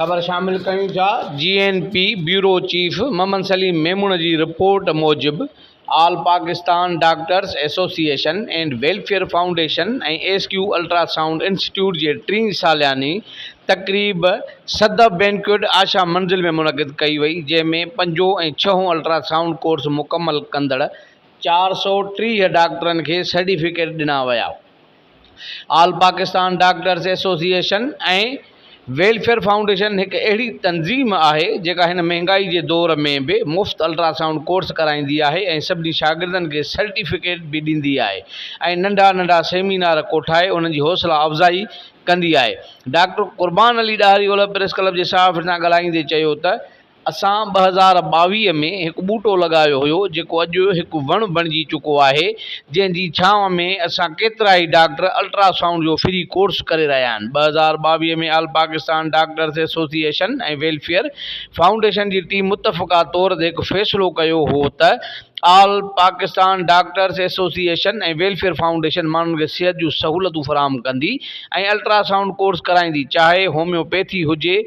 خبر شامل ڪيون ٿا G N P bureau chief Muhammad Saleem Memon جي رپورٽ موجب All Pakistan doctors Association and Welfare Foundation ۽ S Q Ultrasound Institute جي ٽين سالياني تقريب صدف بينڪويٽ آشا منزل ۾ منعقد ڪئي وئي جنهن ۾ پنجون ۽ ڇهون الٽرا سائونڊ ڪورس مڪمل ڪندڙ چار سؤ ٽيهه ڊاڪٽرن کي سرٽيفڪيٽ ڏنا ويا. All Pakistan Doctors Association ۽ welfare Foundation هڪ اهڙي تنظيم آهي جيڪا هن مهنگائي جي دور ۾ به مفت الٽراسائونڊ ڪورس ڪرائيندي آهي ۽ سڀني شاگردن کي سرٽيفڪيٽ به ڏيندي آهي ۽ ننڍا ننڍا سيمينار ڪوٺائي انهن جي حوصلا افزائي ڪندي آهي ڊاڪٽر قربان علي ڏاهري اولهه پريس ڪلب جي صحافين سان ڳالهائيندي چيو ته اسان ٻه هزار ٻاويهه ۾ هڪ ٻوٽو لڳايو هيو جيڪو اڄ هڪ وڻ بڻجي چڪو آهي جنهن جي ڇانو ۾ اسان ڪيترائي ڊاڪٽر الٽرا سائونڊ جو فري ڪورس ڪري رهيا آهن ٻه هزار ٻاويهه ۾ آل Pakistan doctors association ۽ welfare foundation جي ٽيم متفقه طور تي هڪ فيصلو ڪيو هو ته آل Pakistan doctors association ۽ welfare foundation ماڻهن کي صحت جون سهولتون فراهم ڪندي ۽ الٽرا سائونڊ ڪورس ڪرائيندي چاهي هوميوپيٿي هجي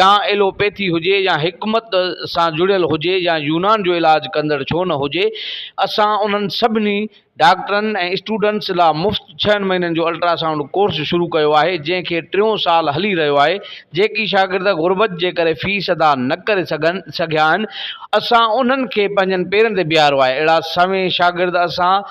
يا ايلوپيٿي هجي يا حڪمت سان جڙيل هجي يا يونان جو علاج ڪندڙ ڇو نه هجي اسان انهن سڀني ڊاڪٽرن ۽ اسٽوڊنٽس لا مفت ڇهن مهينن جو الٽرا سائونڊ ڪورس شروع ڪيو آهي جنهن کي ٽيون سال هلي رهيو آهي جيڪي شاگرد غربت جي ڪري فيس ادا نه ڪري سگهيا آهن اسان انهن کي پنهنجن پيرن تي بيهارو آهي اهڙا سوين شاگرد اسان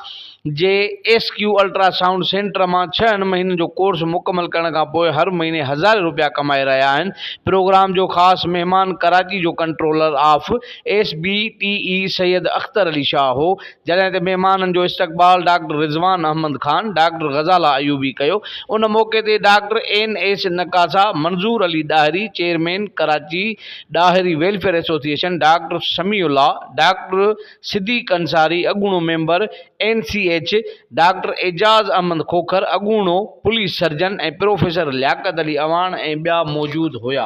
جي S Q ultra sound centre مان ڇهن مهينن جو ڪورس مڪمل ڪرڻ کان پوء هر مهيني هزارين روپيا ڪمائي رهيا آهن پروگرام جو خاص مهمان ڪراچي جو controller of S B T E Syed Akhtar Ali Shah هو جڏهن تي مهمانن جو استقبال ڊاڪٽر رضوان احمد خان ڊاڪٽر غزالا ايوبي ڪيو ان موقعي تي ڊاڪٽر اين ايس نقاسا Manzoor Ali Dahri chairman Karachi Dahri Welfare Association doctor Samiullah doctor Siddiq Ansari, اڳوڻو member N C H, doctor Ejaz Ahmed Khokhar, اڳوڻو police surgeon ۽ professor Liaquat Ali Awan ۽ ٻيا موجود هيا.